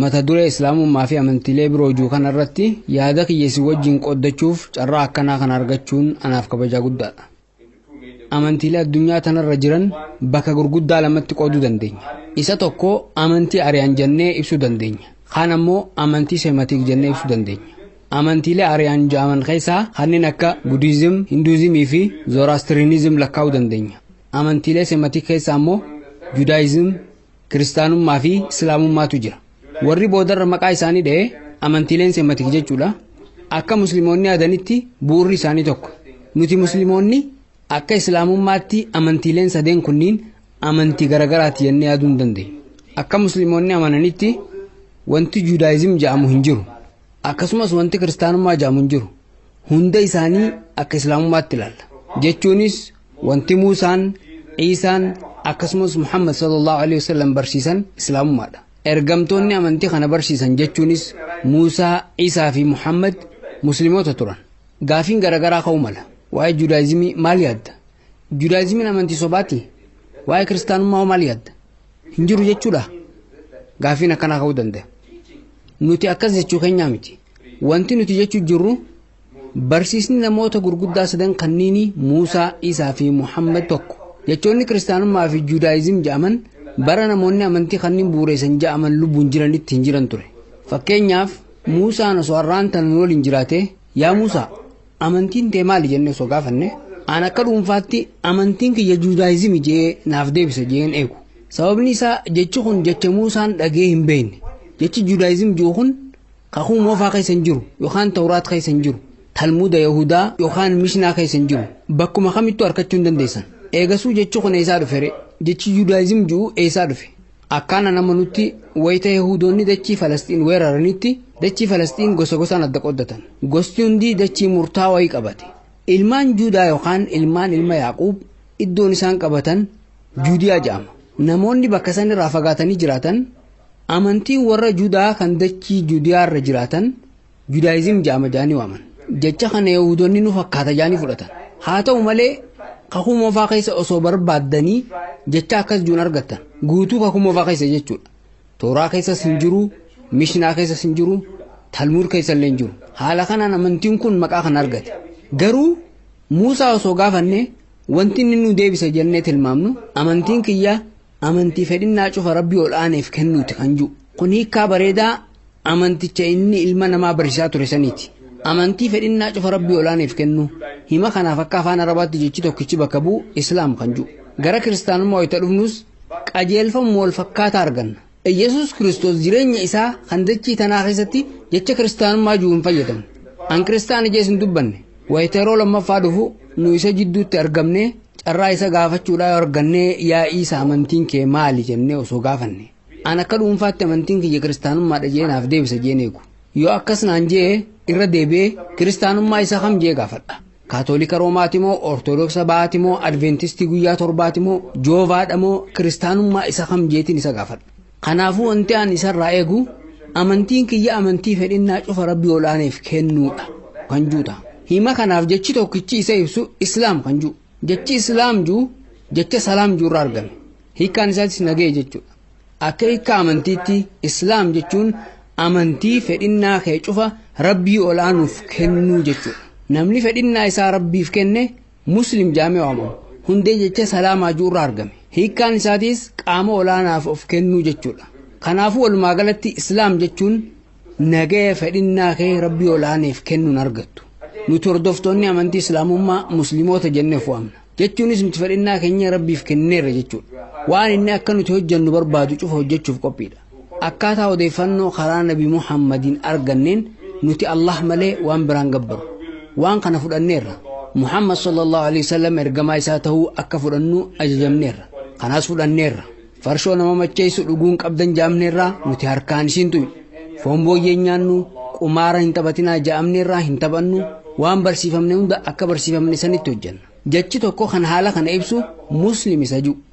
Mata duree Islaamummaa fi amantiilee biroo juu kana irratti yaada kiyya isin wajjin qooddachuuf carraa akkanaa kana argachuun anaaf kabajaa guddaadha. Amantiilee addunyaa tanarra jiran bakka gurguddaa lamatti qooduu dandeenya. Isa tokko amantii ari'an jennee ibsuu dandeenya. Kaan ammoo amantii seematiik jennee ibsuu dandeenya. Amantiilee ari'an ja'aman keessaa kanneen akka Budiizim, Hinduuzimii fi Zooraastiriinizim lakkaa'uu dandeenya. Amantiilee seematiik keessaa ammoo Judaayizim, Kiristaanummaa fi Islaamummaatu jira. Warri boodarra maqaa isaanii dha'e amantiileen Sematik jechuudha. Akka Muslimoonni yaadanitti bu'urri isaanii tokko. Nuti Muslimoonni akka Islaamummaatti amantiileen sadeen kunniin amantii garagaraati jennee yaaduu hin dandeenyu. Akka Muslimoonni amananitti wanti Judaayizim jedhamu hin jiru. Akkasumas wanti Kiristaanummaa jedhamu hin jiru. Hunda isaanii akka Islaamummaatti ilaalla. Jechuunis Wanti Muusaan, Iisaan akkasumas Muhammad sallallahu alaihi wasallam barsiisan Islaamummaadha. Ergamtoonni amantii kana barsiisan jechuunis Muusaa, Iisaa fi Muhammad Muslimoota turan. Gaafiin garaagaraa ka'uu mala. Waa'ee Judaayizimii maal yaadda? Judaayizimiin amantii sobaati? Waa'ee kiristaanummaa hoo maal yaadda? Hin jiru jechuudha? Gaafiin akkanaa ka'uu danda'a. Nuti akkas jechuu keenyaa miti. Wanti nuti jechuu jirru Barsiisni namoota gurguddaa sadan kanniinii Muusaa, Iisaa fi Muhammad tokko. Jechoonni Kiristaanummaa fi Juudaayizim ja'aman bara namoonni amantii kanniin bu'ureessan ja'aman lubbuun jiranitti hin jiran ture. Fakkeenyaaf, Muusaan osoo har'aan tana nu waliin jiraatee, Yaa Muusaa, amantiin tee maali jennee osoo gaafanne, an akka dhuunfaatti amantiin kiyya Juudaayizimi je'ee naaf deebisa je'een eegu. Sababni isaa jechi kun jecha Muusaan dhaga'ee hin beeyne. Jechi Juudaayizim je'u kun Kakuu Moofaa keessa hin jiru yookaan Tawraat keessa hin jiru. Talmuuda Yahudaa yookaan Mishnaa keessa hin jiru. Bakkuma kamittuu arkachuu hin dandeessan. Eegasuu jechi kun eessaa dhufe ree? Jechi Judaayizim ju'u eessaa dhufe? Akkaan an amanutti wayita Yahudoonni dachii Falasxiin weeraranitti dachii Falasxiin gosa gosaan adda qooddatan. Gosti hundi dachii murtaa wayii qabate. Ilmaan Juudaa yookaan ilmaan ilma Yaaquub iddoon isaan qabatan Juudiyaa ja'ama. Namoonni bakka san irraa fagaatanii jiraatan Amantiin warra Judaa kan dachii Judiyaa irra jiraatan Judaayizim ja'ama ja'anii waaman. Jecha kana Yahuudonni nu fakkaata ja'anii fudhatan. Haa ta'u malee kakuu moofaa keessa osoo barbaaddanii jecha akkas juun argattan. Guutuu kakuu moofaa keessa jechuudha. Tooraa keessas hin jiru, Mishnaa keessas hin jiru, Talmuud keessa illee hin jiru. Haala kanaan amantiin kun maqaa kana argate. Garuu Muusaa osoo gaafanne wanti inni nu deebisa jennee tilmaamnu amantiin kiyya Amantii fedhinnaa cufa Rabbii ol aaneef kennuuti kan jiru. Kun hiikkaa bareedaa amanticha inni ilma namaa barsiisaa ture saniiti. Amantii fedhinnaa cufa Rabbii ol aaneef kennuu. Hima kanaaf akka afaan Arabaatti jechi tokkichi bakka bu'u Islaam kan jiru. Gara Kiristaanummaa wayita dhufnus qajeelfamuma wal fakkaataa arganna. Iyyasuus Kiristoos jireenya isaa kan dachii tanaa keessatti jecha Kiristaanummaa jiru hin fayyadamne. An Kiristaana jees hin dubbanne. Wayita yeroo lammaffaa dhufu nu isa jidduutti argamnee Carraa isa gaafachuudhaa yoo argannee yaa Iisa amantiin kee maali jennee osoo gaafanne an akka dhuunfaatti amantiin kiyya kiristaanummaadha jee naaf deebisa jeen eegu. Yoo akkas naan jee irra deebi'ee kiristaanummaa isa kam jee gaafadha. Kaatoolika Roomaati moo Ortodooksa Bahaati moo Adventistii guyyaa torbaati moo Joovaadha moo kiristaanummaa isa kam jeetiin isa gaafadha. Kanaafuu wanti ani isarraa eegu amantiin kiyya amantii fedhinnaa cufa Rabbii ol aaneef kennuudha kan jiru ta'a. Hima kanaaf jechi tokkichi isa ibsu Islaam kan jiru. Jechi Islaam jiru jecha Salaam jiru irraa argame. Hiikkaan isaatis nagaya jechuudha. Akka hiikkaa amantiitti Islaam jechuun amantii fedhinnaa kee cufa Rabbii ol aanuuf kennuu jechuudha. Namni fedhinnaa isaa Rabbiif kenne Muslim Jaamee Waamamu. Hundee jecha salaamaa ju'urraa argame. Hiikkaan isaatiis qaama olaanaaf of kennuu jechuudha. Kanaafuu walumaa galatti Islaam jechuun nagaya fedhinnaa kee Rabbii olaaneef kennuun argattu. Nuti hordoftoonni amantii Islaamummaa Muslimoota jennee of waamna. Jechuunis nuti fedhinnaa keenya Rabbiif kenneerra jechuudha. Waan inni akka nuti hojjannu barbaadu cufa hojjachuuf qophiidha. Akkaataa odeeffannoo karaa Nabi Muhammadiin arganneen nuti Allaah malee waan biraan gabbaru. Waan kana fudhanneerra. Muhammad sallallahu aleyhi wasallam ergamaa isaa tahuu akka fudhannu ajajamneerra. Kanas fudhanneerra. Farshoo nama macheessu dhuguu hin qabdan jaamneerraa nuti harkaan isiin tuynu. Foon booyyee hin nyaannu, qumaara hin taphatinaa ja'amneerraa hin taphannu, waan barsiifamne hunda akka barsiifamne sanitti hojjanna. Jechi tokko kan haala kana ibsu Muslim isa ju.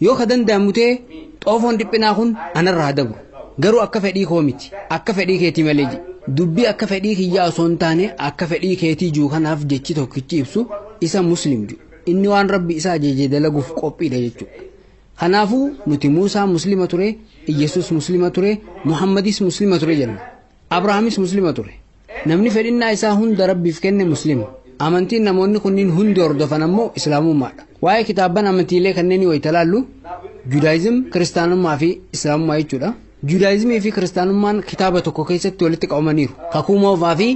Yoo ka danda'amu ta'e xoofoon dhiphinaa kun anarra haa dabru. Garuu akka fedhii koo miti, akka fedhii keetii malee jedhe. Dubbii akka fedhii kiyyaa osoo hin taane akka fedhii keetii jiru kanaaf jechi tokkichi ibsu isa Muslim jiru. Inni waan Rabbi isa ajaje dalaguuf qophiidha jechuudha. Kanaafuu nuti Muusaan Muslima ture, Iyyasuus Muslima ture, Muhammadis Muslima ture jenna. Abrahaamis Muslima ture. Namni fedhinnaa isaa hunda Rabbiif kenne Muslima. Amantiin namoonni kunniin hundi hordofan ammoo Islaamummaadha. Waa'ee kitaabban amantiilee kanneenii wayita laallu Judaayizim, Kiristaanummaa fi Islaamummaa jechuudha. Judaayizimii fi Kiristaanummaan kitaaba tokko keessatti walitti qabamaniiru. Kakuu Moofaa fi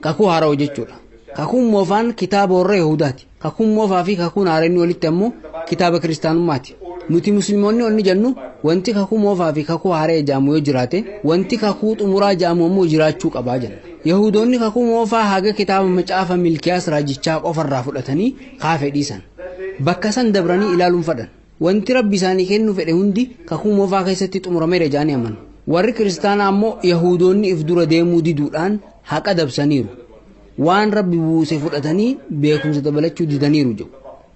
Kakuu Haarawa jechuudha. Kakuun Moofaan kitaaba warra Yahudaati. Kakuun moofaa fi kakuun haaraa inni olitti ammoo kitaaba kiristaanummaati. Nuti muslimoonni onni jennu wanti kakuu moofaa fi kakuu haaraya ja'amu yoo jiraate wanti kakuu xumuraa ja'amu ammoo jiraachuu qabaa jenna. Yahudoonni kakuu moofaa haga kitaaba macaafa milkiyaas raajichaa qofa irraa fudhatanii kaafe dhiisan. Bakka san dabranii ilaaluun fadhan. Wanti Rabbi isaanii kennu fedhe hundi Kakuu Moofaa keessatti xumurameera jedhanii amanu. Warri Kiristaanaa ammoo Yahuudoonni if dura deemuu diduudhaan haqa dabsaniiru. Waan Rabbi buuse fudhatanii beekumsa dabalachuu didaniiru jedhu.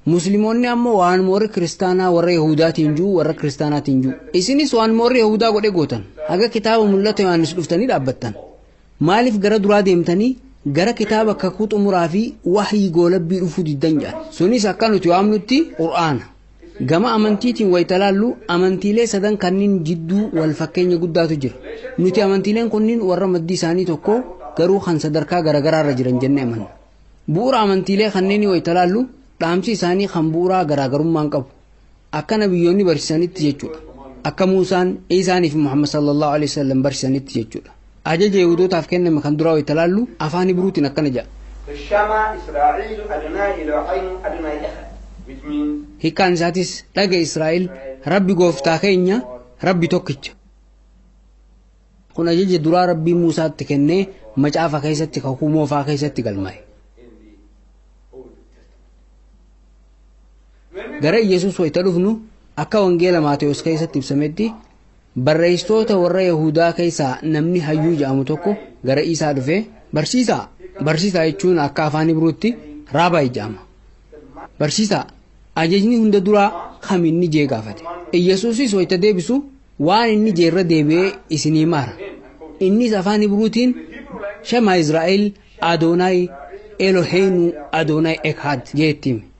Muslimoonni ammoo waanuma warri Kiristaanaa warra Yahuudaatiin jiru warra Kiristaanaatiin jiru. Isinis waanuma warri Yahuudaa godhe gootan. Haga kitaaba mul'ata Yohaannis dhuftanii dhaabbattan. Maalif gara duraa deemtanii gara kitaaba kakuu xumuraa fi wahyii goolabbii dhufuu diddan jedhan. Sunis akka nuti waamnutti Qur'aana. Gama amantiitiin wayita laallu amantiilee sadan kanniin jidduu wal fakkeenya guddaatu jira. Nuti amantiileen kunniin warra maddi isaanii tokko garuu kan sadarkaa garagaraa irra jiran jennee amanna. Bu'ura amantiilee kanneenii wayita laallu dhaamsi isaanii kan bu'uraa garaagarummaa hin qabu. Akka nabiyyoonni barsiisanitti jechuudha. Akka Muusaan, Iisaanii fi Muhammad sallallahu alaihi wasallam barsiisanitti jechuudha. Ajaja Yihudootaaf kenname kan duraa wayita laallu afaan Ibruutiin akkana jedha. Shama Israa'iilu Adonaayi Elohayinu Adonaayi Ehad, which means. Hiikkaan isaatis, Dhaga'i Israa'el, Rabbi Gooftaa keenya, Rabbi tokkicha. Kun ajaja duraa Rabbiin Muusaatti kennee macaafa keessatti kakuu moofaa keessatti galmaa'e. Gara Iyyasuus wayita dhufnu akka wangeela Maatewos keessatti ibsametti barreessitoota warra Yahuudaa keessaa namni hayyuu jedhamu tokko gara Iisaa dhufee barsiisaa barsiisaa jechuun akka afaan Ibruutti raabaayi jedhama. Barsiisaa ajajni hunda duraa kam inni jee gaafate. Iyyasuusis wayita deebisu waan inni jee irra deebi'ee isinii maara. Innis afaan Ibruutiin Shema Israa'el Adoonaay Eloheenuu Adoonaay Ekhaad jee itti hime.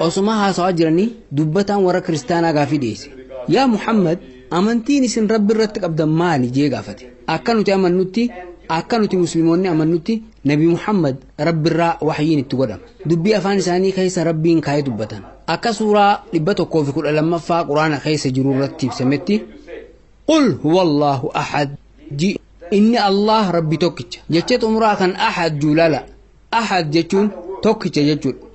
Osuma haasawaa jiranii dubbataan warra kiristaanaa gaafii dhiyeesse. Yaa Muhammad, amantiin isin Rabbi irratti qabdan maali? jee gaafate. Akka nuti amannutti, akka nuti Muslimoonni amannutti, Nabi Muhammad Rabbirraa wahyiin itti godhama. Dubbii afaan isaanii keessa Rabbiin kaa'ee dubbatan. Akka suuraa 112ffaa Quraana keessa jiru irratti ibsametti, Qul huwallaahu ahad ji inni Allah Rabbi tokkicha. Jecha xumuraa kan ahad juulala. Ahad jechuun tokkicha jechuudha.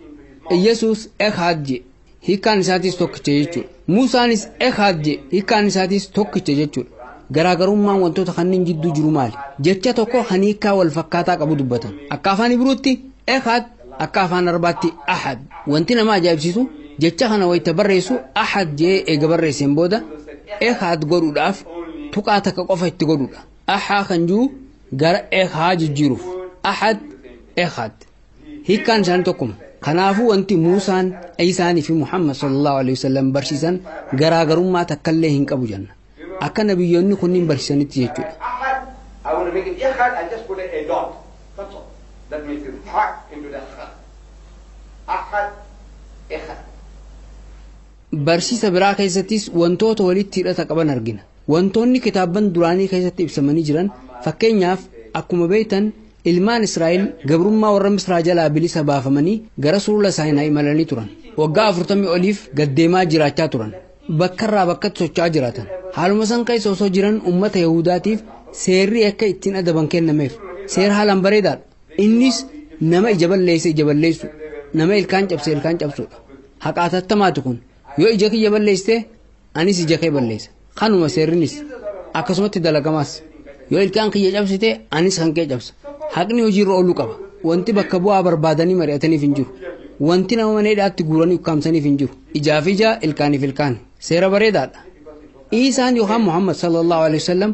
Iyyasuus Ekaad je hiikkaan isaatis tokkicha jechuudha. Muusaanis Ekaad je hiikkaan isaatis tokkicha jechuudha. Garaagarummaan wantoota kanneen jidduu jiru maali? Jecha tokko kan hiikkaa wal fakkaataa qabu dubbatan. Akka afaan Ibruutti Ekaad akka afaan Arabaatti Ahad. Wanti nama ajaa'ibsiisu jecha kana wayita barreessu Ahad jee eega barreesseen booda Ekaad godhuudhaaf tuqaa takka qofa itti godhuudha. Ahhaa kan jiru gara Ehhaa jijjiiruuf. Ahad, Ehad. Hiikkaan isaanii tokkuma. Kanaafuu wanti Muusaan, Iisaanii fi Muhammad sallallahu alaihi wasallam barsiisan garaagarummaa takkallee hin qabu jenna. Akka nabiyyoonni kunniin barsiisanitti jechuudha. Ahad, I want to make it Ehad, I just put a dot. That's all. That makes it Ha into the Ha. Ahad, Ehad. Barsiisa biraa keessattis wantoota walitti hidhata qaban argina. Wantoonni kitaabban duraanii keessatti ibsamanii jiran, fakkeenyaaf, akkuma beektan ilmaan Israa'el gabrummaa warra Misraa jalaa bilisa baafamanii gara Sulula Saayinaa imalanii turan. Waggaa afurtamii oliif gad deemaa jiraachaa turan. Bakkarraa bakkatti socho'aa jiraatan. Haaluma san keessa osoo jiran ummata Yahudaatiif seerri akka ittiin adaban kennameef. Seera haalaan bareedaadha. Innis nama ija balleesse ija balleessuu, nama ilkaan cabse ilkaan cabsuudha. Haqa atattamaati kun. Yoo ija kiyya balleessite anis ija kee balleessa. Kanuma seerrinis. Akkasumatti dalagamaas. Yoo ilkaan kiyya cabsite anis kan kee cabsa. Haqni hojiirra ooluu qaba. Wanti bakka bu'aa barbaadanii mari'ataniif hin jiru. Wanti nama mana hidhaatti guuranii ukkaamsaniif hin jiru. Ijaaf ija, ilkaaniif ilkaan. Seera bareedaadha. Iisaan yookaan Muhammad sallallahu alaihi wasallam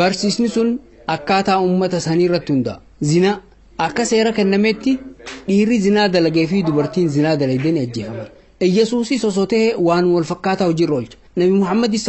Barsiisni sun akkaataa ummata sanii irratti hundaa'a. Zinaa, Akka seera kennameetti dhiirri zinaa dalagee fi dubartiin zinaa dalagde ni ajjeefaman. Iyyasuusis osoo ta'ee waanuma wal fakkaataa hojiirra oolcha. Nabi Muhammadis,